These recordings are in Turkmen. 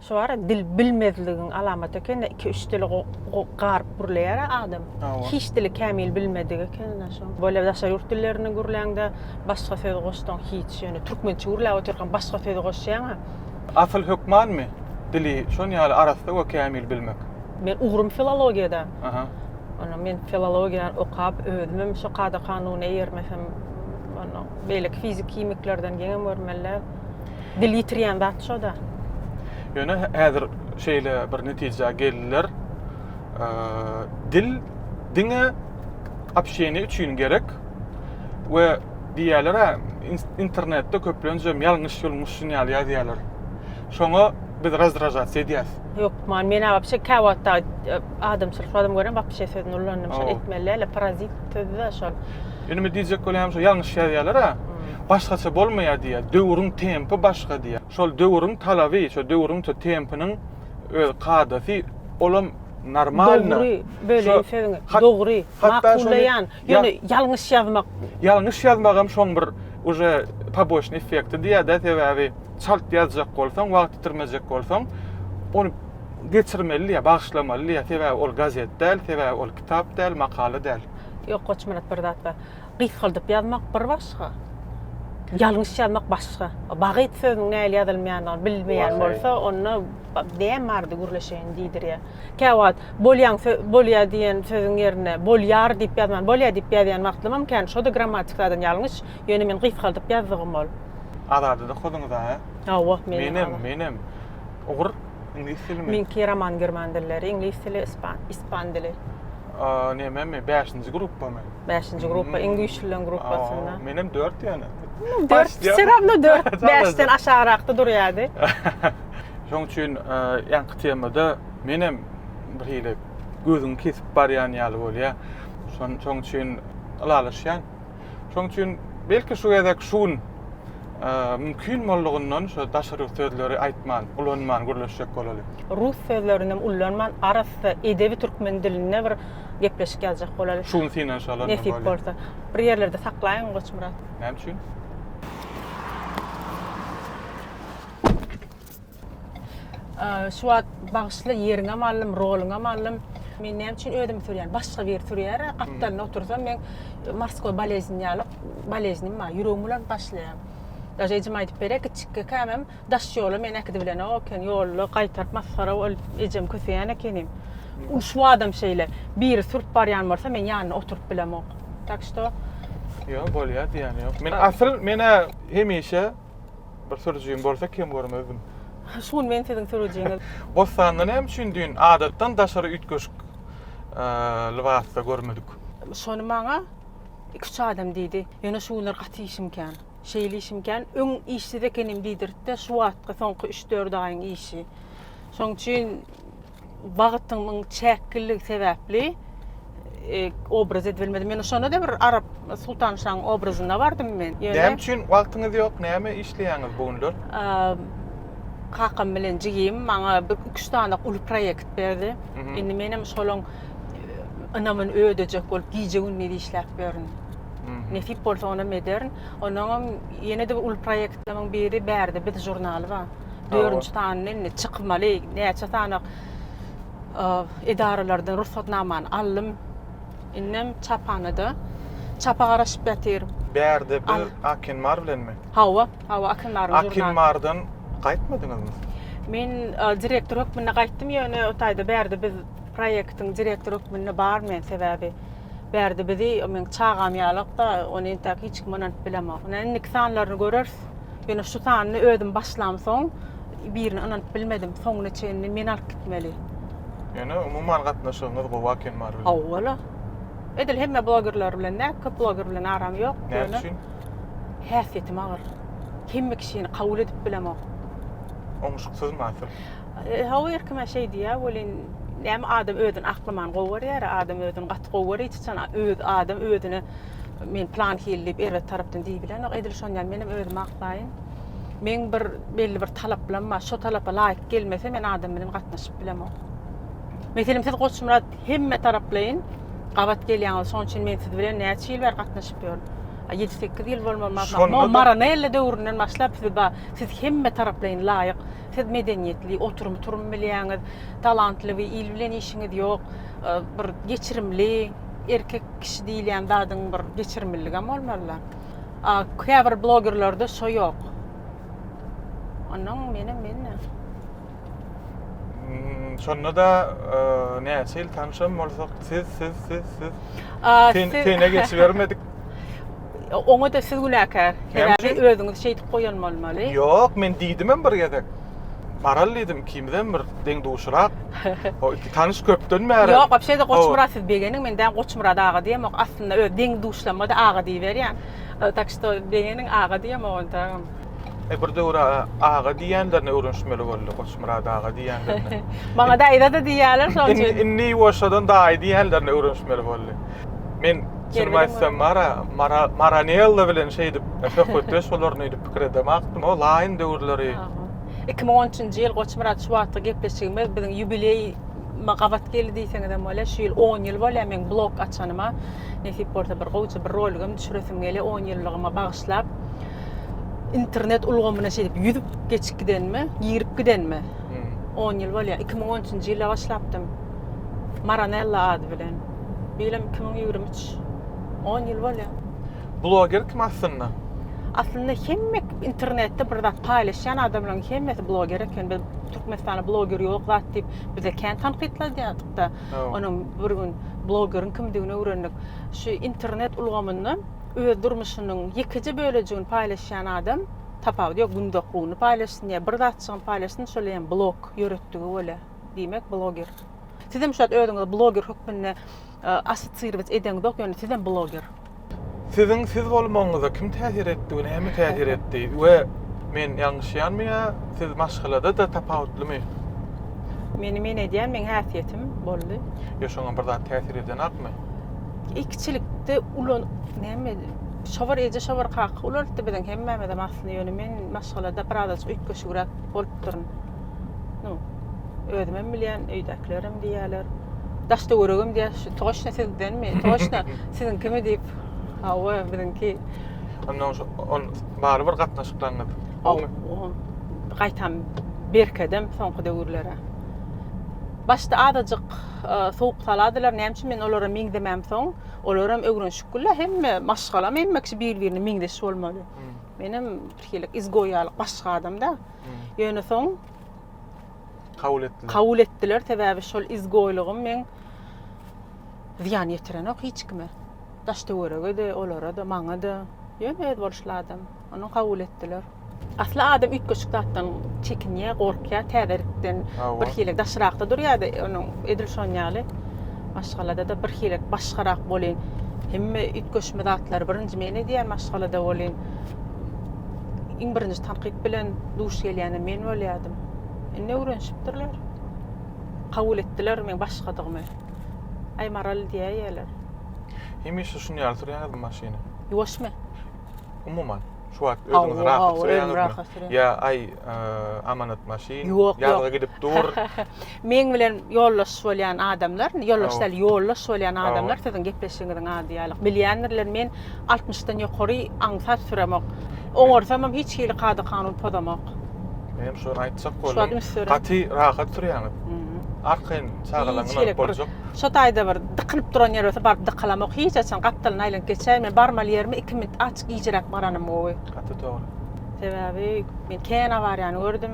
Şu bar ya dil bilmezligiň alamaty ekende iki üç dili garyp gürleýär adam. Hiç dili kämil bilmedik ekende şu. Böyle daşary ýurt dillerini gürläňde başga söz goşsaň hiç ýöne türkmençe gürläp otyrkaň başga söz goşýaňa. Asyl hökmanmy dili şon ýaly arassa we kämil bilmek? Men ugrum filologiýada. Aha. Onda men filologiýa okap özümem şu kada-kanuna eýermesem onda beýleki fizik-himiklerden geňem görmeli. Dil ýitirýän zat şo-da. Ýöne häzir şeýle bir netijä geldiler, dil diňe apşeýni üçin gerek we diýýärler-ä, internetde köplenç hem ýalňyş-ýulňyş şun ýaly ýazýarlar. Şoňa biz razdražasiýa edýäs. Ýok, man men-ä wapşe kä wagtda adamçylyk adam görem wapşe sözüni ullanyp, şol etmeli däl-de, parazit sözi-de şol. Indi diýjek bolýan şu ýalňyş ýazýalar a. Başgaça bolmaýar diýýär. Döwrüň tempi başga diýýär. Şol döwrüň talaby, şol döwrüň şol tempiniň öz kadasy olam normalno. Dogry bölýän sözüňi. Dogry. Makullaýan. Ýöne ýalňyş ýazmak. Ýalňyş ýazmagam şoň bir uje poboçnyý effekti diýýärde sebäbi çalt ýazjak bolsaň wagt ýitirmejek bolsaň ony geçirmeli diýýär, bagyşlamaly diýýär sebäbi ol gazet däl, sebäbi ol kitap däl, makala däl. Ýok Goçmyrat bir zat bar. Gysgaldyp ýazmak bir başga. Ýalňyş ýazmak başga. Bagyt sözüniň nähili ýazylmaýandygyny bilmeýän bolsa onda näme bardy gürleşeýin diýdirýär. Käwagt bolýan bolýar diýen sözüň ýerine bolýar diýip ýazman bolýar diýip ýazýan wagtlymam kän şoda grammatik taýdan ýalňyş ýöne men gysgaldyp ýazdygym ol. Azady-da okadyňyz a? Hawa menem. Menem ugur iňlis dilimi. Meňki roman german dilleri iňlis dili ispan ispan dili. Nememi, bäşinji gruppamy? Bäşinji gruppa, iň güýçlüleň gruppasynda. Menem dört ýöne. Dört, seramda dört, bäşden aşagrakda durýady. Şoň üçin ýaňky temada menem bir hili gözüňi kesip barýan ýaly bolýa. Şoň üçin ylalaşýan. Şonuň üçin belki şu gezek şu gün mümkin boldugyndan şu daşary sözleri aýtman, ulanman gürleşjek bolaly. Rus sözlerini hem ulanman arassa edebi türkmen dilinde bir gepleşik ýazjak bolaly. Şu gün synanyşalar. Nesip bolsa. Bir ýerlerde saklaýyň Goçmyrat. Näme üçin? Şu wagt bagyşla ýeriňem aldym, roluňam aldym. Men näme üçin özüm sürýän? Başga bir sürýär. Gapdalda otursam men morskoý boleznini ýaly boleznim bar. Ýüregim bulanp başlaýar. Daže ejem aýdyp berýär, kiçik ekämem daş ýola meni äkidip bilenok eken. Ýolda gaýtaryp masgara bolup ejem köseýän ekenim. Şu wagtam şeýle. Biri sürüp barýan bolsa men ýanynda oturyp bilemok. Tak što Ýok bolýar diýýän ýok. Men asyl menä hemişe Bir sürüjim bolsa kem görmezdim. Şu gün men siziň sürüjiňiz. Bossanda näme üçin düýn adatdan daşary üýtgeşik lybasda görmedik? Şony maňa iki-üç adam diýdi. Ýöne şu günler gaty işim kän. Şeýle işim kän, öň işsiz ekenim diýdirtdi, şu wagtky soňky üç-dört aýyň işi. Şoň üçin wagtymyň çäkliligi sebäpli obraz edilmedi. Men şonda da bir Arap Sultan Şaň obrazyna bardym men. Ýöne Näme üçin wagtyňyz ýok? Näme işleýäňiz bu günler? kakam bilen jigim maňa bir üç dana uly proýekt berdi. Indi men hem şolaň ynamyny ödejek bolup gije gündiz işläp ýörün. Nesip bolsa onam ederin. Ondan hem ýene-de bir uly proýektimiň biri Bärde biz žurnaly bar. Dördünji sanyny indi çykmaly, näçe sanak edaralardan rugsatnamany aldym. Indem çaphanada çapa garaşyp ýatyr. Bärde bir Akinmar bilenmi? Hawa, hawa Akinmar. Akinmardan gaýtmadyňyzmy? Men direktor hökmünde gaýtdym, ýöne o taýda bärde biz proýektiň direktor hökmünde bar men sebäbi bärde bizi men çagam ýalak da, ony entäk hiç kim ynanyp bilemok. Indi iki sanlaryny görers. ýazaýarys. Ýöne şu sanyny özüm başlamsoň, birine ynanyp bilmedim. Soňuna çenli men alyp gitmeli. Ýöne umuman gatnaşygyňyz gowy aken bar bilen. Howwala. Edil hemme blogerler bilen däl, köp bloger bilen aram ýok. Näme üçin? Häsiýetim agyr. Hemme kişini kabul edip bilemok. Oňuşyksyzmy asyl? Hawa her kime şeý diýýär welin näme adam özüni aklaman gowy görýär, adam özüni gaty gowy görýär, hiç haçan öz adam özüne Men plan hili diýip erbet tarapdan diýip bilenok. Edil şon ýaly menem özümi aklaýyn. Men bir belli bir talaplam bar. Şo talapa laýyk gelmese men adam bilen gatnaşyp bilemok. Meselem siz Goçmyrat hemme taraplaýyn gabat gelýäňiz. Şoň üçin men siz bilen näçe ýyl bäri gatnaşyp ýörün. 7-8 ýyl bolmaly maşallah. Mo Maranella döwründen başlap siz ba siz hemme taraplaýyn laýyk. Siz medeniýetli, oturum-turum bilýäňiz, talantly we il bilen işiňiz ýok. Bir geçirimli erkek kişi diýilýän zadyň bir geçirimliligem bolmaly. Käbir blogerlerde şo ýok. Onuň meni men Şonda da näçe ýyl tanşam bolsak, siz, siz, siz, siz. Sene geçibermedik. Oňa-da siz günäkär. Sebäbi özüňiz şeýdip goýan bolmaly. Ýok, men diýdimem bir gezek. Baraly diýdim, ikimizem bir deň-duşrak. O iki tanyş köpden bäri. Ýok, wapşe-de Goçmyrat siz begeniň, men däl Goçmyrada aga diýemok. Aslynda öz deň-duşlarymyza-da aga diýiberýän. Tak şto, begeniň, aga diýemok onda. E bir döwür aga diýenlerini öwrenişmeli boldy. Goçmyrat aga diýenlerini. Maňa daýza da diýýärler şoň üçin. Indi ýuwaşjadan daýy diýenlerini öwrenişmeli boldy. Men Şuny aýtsam Mara, Mara, Maranella bilen şeýdip söhbetdeş bolaryny öýdüp pikir edem akdym. O laýyn döwürleri. 2013-nji ýyl Goçmyrat şu wagtky gepleşigimiz biziň ýubileý gabat geldi diýseňiz hem bolýar. Şu ýyl 10 ýyl bolýar men blog açanyma. Nesip bolsa bir gowja bir roligim düşüresim gelýär 10 ýyllygyma bagyşlap. internet ulgamyna şeýdip ýüzüp geçip gidenime, girip gidenime 10 hmm. ýyl bolýar. 2013-nji ýylda başlapdym. Maranella ady bilen. Bilim 2023 10 ýyl bolýar. Bloger kim aslynda? Aslynda hemme internetde bir zat paýlaşýan adamlaryň hemmesi bloger eken. Biz Türkmenistanda bloger ýok zat diýip bize kän tankytladýardyk-da. Onuň bir gün blogeriň kimdigini öwrendik. Şu internet ulgamyndan öz durmuşynyň ýekeje bölejigini paýlaşýan adam tapawudy ýok günde okuwyny paýlaşsyn ýa bir zatjygyny paýlaşsyn şol hem blog ýöretdigi bolýa diýmek bloger sizem şat özüňizi bloger hökmünde associrowat edeňizok ýöne sizem bloger. Siziň siz bolmagyňyza kim täsir etdi, näme täsir etdi we men ýalňyşýanmy ýa siz maşgalada da tapawutlymy? Meni men edýän meň häsiýetim boldy. Ýa şoňam bir zat täsir edýänakmy? Ekiçilikde ulan näme şobar eje şobar kaka ulanıpdy biziň hemmämiz hem aslynda ýöne men maşgalada biraz öýtgeşigräk bolup durun. Nu, özüm hem bilýän, öýdäkiler hem diýýärler. Daşda göregem diýýär, şu toşna sizdenmi? Toşna siziň kimi diýip. Hawa, biziňki. Ondan şu on bary bir gatnaşyklaryňyz. Gaýtam berkedem soňky döwürlere. Başda azajyk Sowuk saladylar näme üçin men olara meňzemem soň olaram ögrenşik güllä hemme maşgalam hemme kişi bir birine meňzeş bolmaly menem birhili izgoýýalyk başga adamda ýöne soň kabul etdiler kabul etdiler sebäbi şol izgoýlygym men zyýan ýetirenok hiç kime daş töwerege de olara da maňa da ýöne öz boluşly adam. Ony kabul etdiler. Asla adam üýtgeşik zatdan çekinýär, gorkýar, täzelikden bir hili daşrakda durýar-da, onuň edil şonuň ýaly maşgalada-da bir hili başgarak bolýn. Hemme üýtgeşme zatlary birinji men edýän maşgalada bolýn. Iň birinji tankyt bilen duş gelýänem men bolýardym. Indi öwrenişipdirler. Kabul etdiler meň başgadygymy. Aý Maral diýýärler. Hemişe şuny ýaly sürýäňizmi maşyny? Ýuwaşmy? umuman şu wagt özüňizi rahat duýýaňyzmy? Ýa aý amanat maşyn ýazga gidip dur. Meň bilen ýoldaş bolýan adamlar, ýoldaş däl, ýoldaş bolýan adamlar siziň gepleşigiňiziň ady ýaly. Bilýändirler, men 60-dan ýokary aňsat süremok. Oňarsam hem hiç hili kada kanun pozamok. Men hem şony aýtjak boldum. Gaty rahat sürýäňiz. Arkaýyn çagalaryňyz boljak. Şo taýda bir dykylyp duran ýer bolsa baryp dykylamok hiç haçan gapdalyny aýlanyp geçäýin men barmaly ýerimi iki minut aç gijräk baranym gowy. Gaty dogry. Sebäbi men kän awariýany gördüm.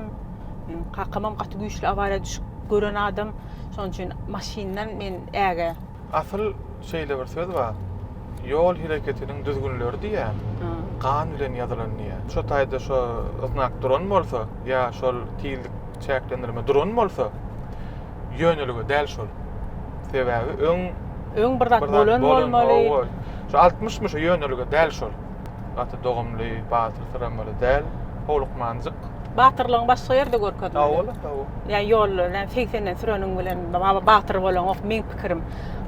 Meniň kakamam gaty güýçli awariýa düşüp gören adam. Şonuň üçin maşyndan men äge. Asyl şeýle bir söz bar. Ýol hereketiniň düzgünleri diýä. Gan bilen ýazylan diýä. Şo taýda şo znak duran bolsa ýa şol tizlik çäklendirme duran bolsa, ýönelige däl şol. Sebäbi öň öň bir zat bolan bolmaly. Şu 60 myş ýönelige däl şol. Gaty dogumly, batyr syramaly däl. Howlukmanjyk. Batyrlygyň başga ýerde görkezmeli. Hawa, ola hawa. Ýa ýolda, ýa 80-den süreniň bilen baba batyr bolaňok, meň pikirim.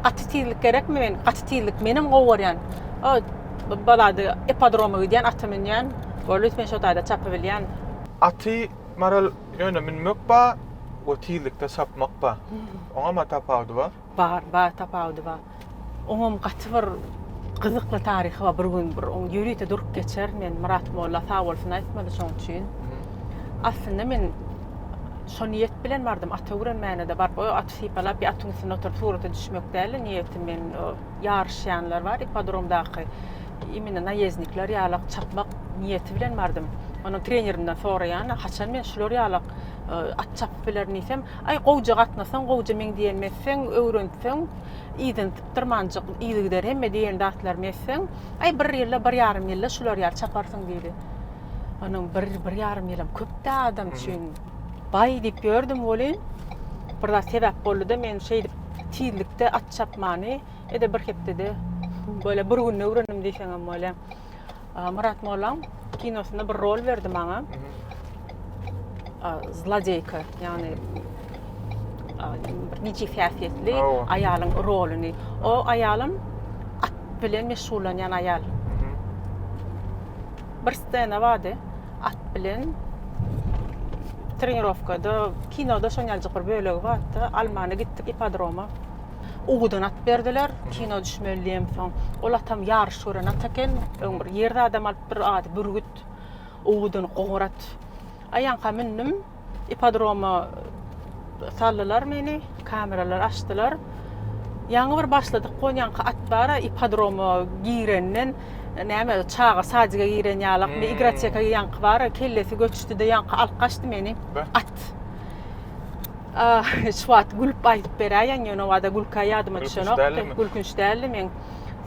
Gaty tizlik gerekmi men? Gaty tizlik menem gowy görýän. O balady ipodroma gidýän, aty münýän. Bolus men şo taýda çapy bilýän. Aty Maral ýöne münmek ba we tizlikde çapmak ba. Oňam a tapawudy ba? Bar, bar tapawudy ba. Oňam gaty bir gyzykly taryhy ba. Bir gün bir oň ýörite durup geçerin men. Myrat molla sag bolsun aýtmady şoň üçin. Aslynda men şo niýet bilen bardym. At öwrenmäne-de baryp, o aty sypalap, ýa atyň üstünde oturyp surata düşmek däl-de niýetim meniň. O ýaryşýanlar bar ippodromdaky. Imine naýezdnikler ýalak çapmak. niýeti bilen bardym. Onuň trenerinden soraýan, haçan men şular ýalak at çapyp bilerin diýsem, aý gowja gatnasaň, gowja meň diýenimi etseň, öwrenseň, yzyny sypdyrmanjyk, yzy gider hemme diýen zatlarymy etseň, aý bir ýylda, bir ýarym ýylda şular ýaly çaparsyň diýdi. Onuň bir, bir ýarym ýylam köp-dä adam üçin. Baý diýip ýördüm welin, bir zat sebäp boldy-da, men şeýdip tizlikde at çapmany, ede bir hepdede, böyle bir günde öwrendim diýseňem bolýa. Murat Mollaň kinosynda bir rol berdi maňa. Zlodeýka, ýagny bir niçik häsiýetli aýalyň roluny. O aýalym at bilen meşgullanýan aýal. Bir stena bardy. At bilen trenirowkada, kinoda şonýaljyk bir bölegi bardy. Almana gitdik ipodroma. Uwudan at berdiler, kino düşmeli diýemsoň. Ol atam ýaryş gören at eken, öň bir ýerde adam alypdyr, ady Bürgüt. Uwudan goňur at. Aýanka mündüm, ipodroma saldylar meni, kameralar açdylar. Ýaňy bir başladyk gonýanka at bar, ipodroma girenden näme çaga sadyga giren ýalakmy, igroteka ýaňky bar, kellesi göçdi-de ýaňky alyp gaçdy meni at. Şu wagt gülüp aýdyp beräýen ýöne o wada gülkä ýadyma düşenok. Gülkünç däldi men.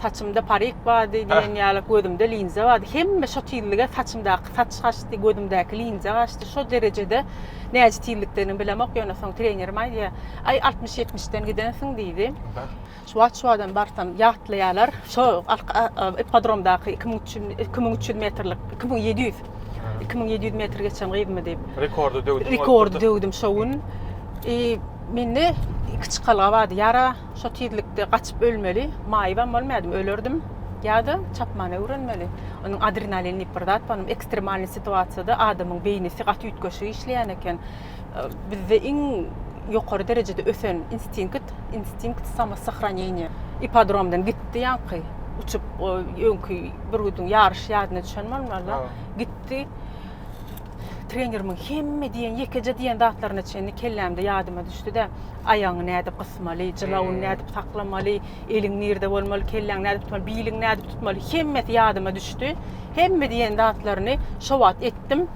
Saçymda parik bardy diýen ýaly, gözümde linza bardy. Hemme şo tizlige saçymdaky saç gaçdy, gözümdäki linza gaçdy. Şo derejede näce tizlikden bilemok ýöne soň trenerim aýdýar. Aý 60-70 den gidensiň diýdi. Şu wagt şu adam barsam ýatlaýarlar. Şo ippodromdaky iki müň üç ýüz, iki müň üç ýüz metrlik, iki müň ýedi ýüz, iki müň ýedi ýüz metr geçen gyzmy diýip. Rekordy döwdüm. Rekordy döwdüm şo gün. I mende iki çykalga bardy. Ýara şo tizlikde gaçyp ölmeli, maýybam bolmaýardym, ölerdim. Ýa-da çapmana öwrenmeli. Onuň adrenalin diýip bir zat bar. Ekstremalnyý situasiýada adamyň beýnisi gaty üýtgeşik işleýän eken. Bizde iň ýokary derejede ösen instinkt, instinkt samosahraneniýa. Ipodromdan gitdi ýaňky, uçup, o öňki bürgüdiň ýaryş ýadyna düşen bolmaly. Gitdi. Trenerimiň hemme diýen, ýekeje diýen zatlaryna çenli kellämde ýadyma düşdi-de, aýagyňy nädip gysmaly, jylawyny nädip saklamaly, eliň nirde bolmaly, kelläňi nädip tutmaly, biliňi nädip tutmaly, hemmesi ýadyma düşdi. Hemme diýen zatlaryny şo wagt etdim.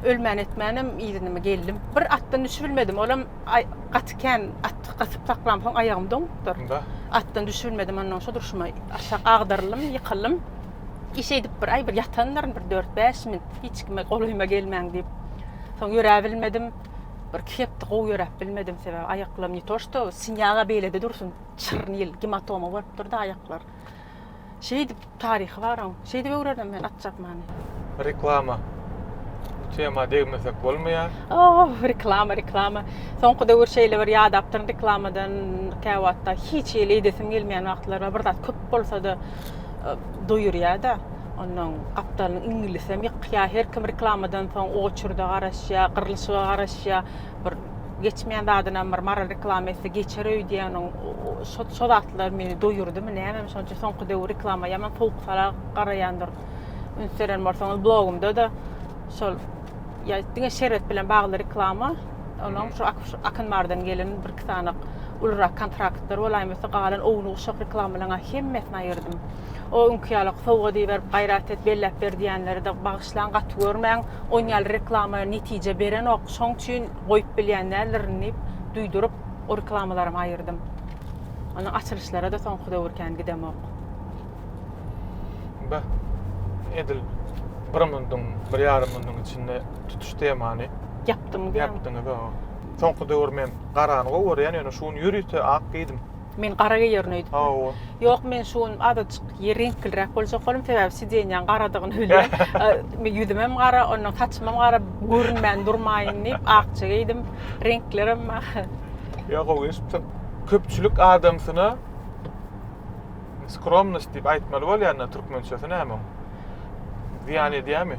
ölmän-etmänem yzynymy geldim. Bir atdan düşübilmedim, olam gaty kän at gatyp saklam, soň aýagym doňupdyr. Atdan düşübilmedim, ondan şu durşuma aşak agdaryldym, ýykyldym. Iş edip bir aý bir ýatandyryn, bir 4-5 min, hiç kime golaýyma gelmäň diýip. Soň ýöräbilmedim. Bir iki hepde gowy ýöräp bilmedim, sebäbi aýaklarym ne to, şto sinýaga beýlede dursun, çyrnyl, gematoma bolup durdy aýaklar. Şeýdip taryhy bar oň. Şeýdip öwrenem men at çapmany. Reklama. Bu tema degmesek bolmaýa. Oh, reklama, reklama. Soňky döwür şeýle bir ýadapdyryn reklamadan käwatda hiç hili edesim gelmeýän wagtlary bar. Bir zat köp bolsada e, doýurýada. Ondan gapdalyny iňlisem ýykýa. Her kim reklamadan soň oçurda garaşýa, gyrlyşyga garaşýa. bir geçmeýän zadynam bir maral reklama etse geçer öýdýäniň şo şo zatlar meni doýurdymy nämemi şonça soňky döwür reklama ýaman sowuk-sala garaýandyr üns beren bolsaňyz blogumda da şol ýa diňe şerbet bilen bagly reklama onuň şu akyn bardan gelen bir iki sany ulurak kontraktlar bolaýmasa galan owuny uşak reklamalarynha hemmesini aýyrdym O öňki ýaly sowgat iberip gaýrat et belläp ber diýenleri-de bagyşlaň gaty görmäň. Oň ýaly reklama netije berenok. Şoň üçin goýup bilýän däldirin diýip duýduryp o reklamalaramy aýyrdym. Ony açylyşlara-da soňky döwür kän gidemok. Be, edil bir munduň, bir ýarym munduň içinde tutuş temany Ýapdyňyz ýa? ýapdyňyz, hawa. Soňky döwür men garany gowy görýän, ýöne şu gün ýörite ak geýdim. Men gara geýerin öýdüp. Hawa. Ýok, men şu gün azajyk reňkliräk boljak boldum, sebäbi sidenýaň garadygyny bilýän. Men ýüzümem gara, ondan saçymam gara, görünmän durmaýyn diýip, akja geýdim. Reňklerem Ýa gowy eşipsiň. Köpçülik adamsyna skromnost diýip aýtmaly bolýanda türkmençesi näme oň? Zyýan edýärmi?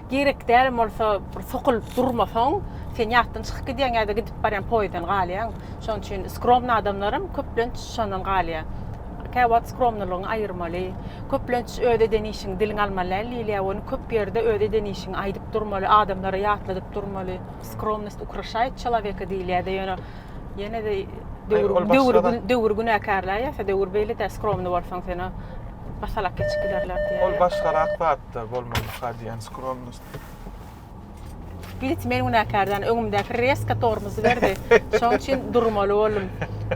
Gerek dälem bolsa bir sokulyp durmasaň, sen ýatdan çykyp gidýäň ýa-da gidip barýan poýizden galýaň. Şonuň üçin skromny adamlaram köplenç şondan galýa. Kä wagt skromnylygyňy aýyrmaly. Köplenç öz eden işiňi diliňe almaly däl diýilýä, ony köp ýerde öz eden işiňi aýdyp durmaly, adamlara ýatladyp durmaly. Skromnost ukraşaýt çelaweka diýilýä-de, ýöne ýene-de döwür döwür günäkärläýä, döwür beýle däl, skromny bolsaň sen-a. Basalak geçip giderler diýýär. Ol başgarak zatda bolmalyka diýen skromnost. Git men günäkärden öňümdäki reska tormuzy berdi. Şoň üçin durmaly boldum.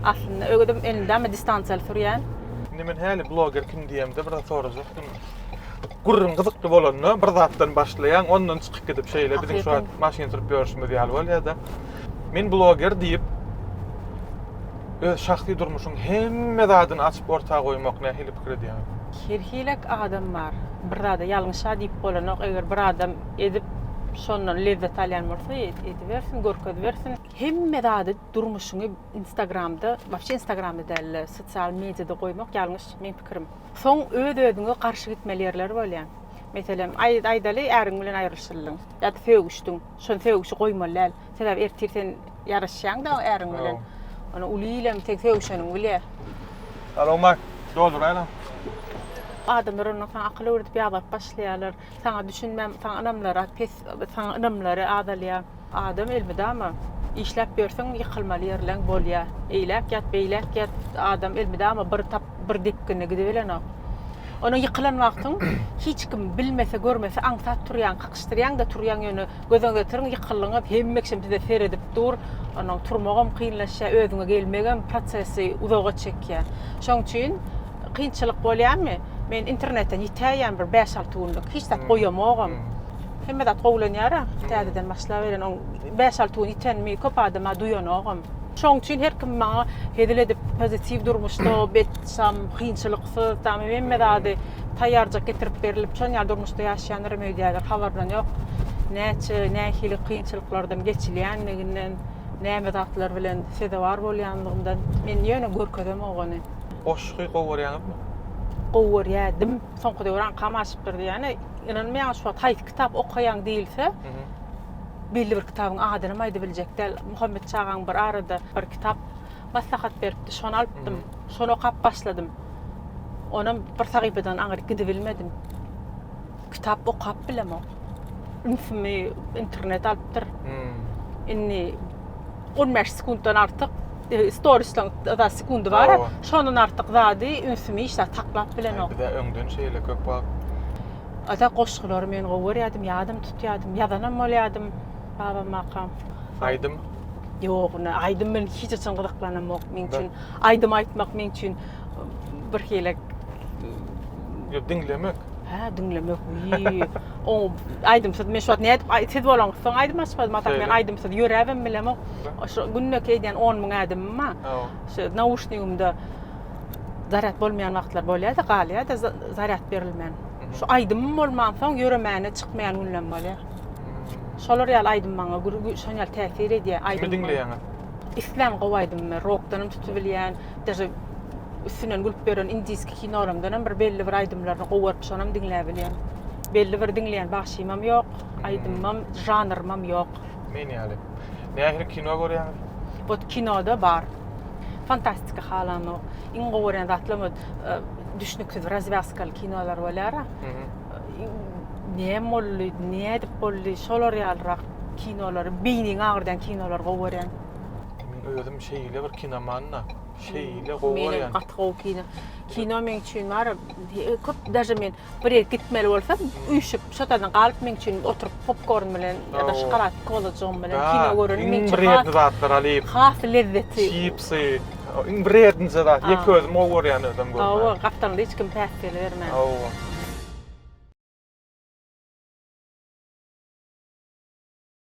Aslynda ögedem elinde ama distansiýaly sürýän. Indi men häli bloger kim diýemde bir zat sorajakdym. Gürrüň gyzykly bolanda bir zatdan başlaýaň, ondan çykyp gidip şeýle biziň şu wagt maşyn sürüp ýörşümiz ýaly bolýada. Men bloger diýip öz şahsy durmuşyň hemme zadyny açyp orta goýmak nähili pikir edýäňiz? Her hilek adam bar. Bir zada ýalňyşa diýip bolanok. Eger bir adam edip şondan lezzet alýan bolsa edibersin, görkezibersin. Hemme zady durmuşyňy instagramda, wapşe instagramda dälde, sosial mediýada goýmak ýalňyş meň pikirim. Soň öz özüňe garşy gitmeli ýerler bolýar. Meselem, aýdaly äriň bilen aýrylyşyldyň ýa-da sögüşdiň. Şony sögüşi goýmaly däl. Sebäbi ertir sen ýaraşýaň-da äriň bilen. Ony uly ilem sen sögüşeniňi bilýär. Alo, Mak, dolduraýlaň. Adamlar ondan soň akyl öwredip ýabap başlaýarlar. Saňa düşünmän, saňa ynamlary pes, saňa ynamlary azalýar. Adam elmydama işläp ýörseň ýykylmaly ýerleň bolýar. Eýläk ýat, beýläk ýat, adam elmydama bir tap. bir depginde gidibilenok. Ony ýykylan wagtyň hiç kim bilmese, görmese aňsat turýaň, kakyşdyrýaň da turýaň ýöne göze getiriň ýykyldyňyz, hemme kişi size seredip dur. Onuň turmagam kynlaşýar, özüňe gelmegem prosesi uzaga çekýär. Şoň üçin kynçylyk bolýarmy? Men internetden ýitäýýän bir bäş, alty günlük, hiç zat goýamogam. Hemme zat gowulanýar-a, täzeden başlaberen, oň bäş, alty gün ýitenimi köp adama duýanogam. Şoň üçin her kim maňa hezil edip, pozitiw durmuşda bet, şam, kynçylyksyz, tamy hemme zady taýýarjak getirip berilip, şon ýaly durmuşda ýaşaýanlaram öýdýärler, habarynam ýok. Näçe, nähili kynçylyklardan geçilýänliginden, näme zatlar bilen sezewar bolýanlygyndan men ýöne görkezemok ony. Goşgy gowy görýäňizmi? Gowy görýärdim. Soňky döwür aňkam aşypdyr diýýän. Ynanmaýaň, şu wagt haýsy kitap okaýaň diýilse, Belli bir kitabyň adynam aýdyp biljek däl. Muhammet çagaň bir arada bir kitap maslahat beripdi. Şony alypdym. Şony okap başladym. Onam bir sahypadan aňryk gidibilmedim. Kitap okap bilemok. Ünsümi internet alypdyr. Indi 15 sekunddan artyk e, storislaň da sekundy bar. Owa. Şondan artyk zady ünsümi işläp saklap bilenok. Bize öňden şeýle köp wagt Ata goşgulary men gowy görýärdim, ýadym tutýardym, ýazanam bolýardym babamaka. Aýdym? Ýok, ine aýdym bilen hiç haçan gyzyklanamok. Meň üçin aýdym aýtmak meň üçin bir hili Ýok, diňlemek. Hä, diňlemek. Wiý. O aýdymsyz men şu wagt nädip siz bolaňyz soň aýdym açmadym ata men aýdymsyz ýöräbem bilemok. Şo günde eýdýän 10 müň ädimim bar. Şu nauşnigimde zarýad bolmaýan wagtlar bolýar-da, galýar-da zarýad berilmän. Şu aýdymym bolmansoň ýöremäne çykmaýan günlem bolýar. Şolar ýaly aýdym maňa şoň ýaly täsir edýär. Aýdym diňleýäňiz? Islän gowy aýdymmy, rokdanam tutubilýän, daže üstünden gülüp beren indiski kinolarymdanam bir belli bir aýdymlaryny gowaryp şonam diňläbilýän. Belli bir diňleýän bagşymam ýok, aýdymymam, žanrymam ýok. Men ýaly. Nähili kino görýäňiz? Ot kinoda bar. Fantastika halanok. Iň gowy görýän zatlam ot e, düşnüksiz razwýazkaly kinolar bolýara. Näme boldy, nädip boldy, şolar ýalyrak kinolary, beýniňi agyrdan kinolar gowy görýän. Men özüm şeýle bir kinomanda. Şeýle gowy görýän. Gaty gowy kino. Kino meň üçin bar. Köp daže men Bir ýere gitmeli bolsam, üýşüp, şo taýdan galyp meň üçin oturyp popkorn bilen ýa-da şokolad kolajygym bilen kino gören meň üçin has wredni zatlar alyp, has lezzetli. Çipsy, iň wrednije zat, ýek özüm gowy görýän özem görmän. Hawa, gapdalynda hiç kim päsgel bermän. Hawa.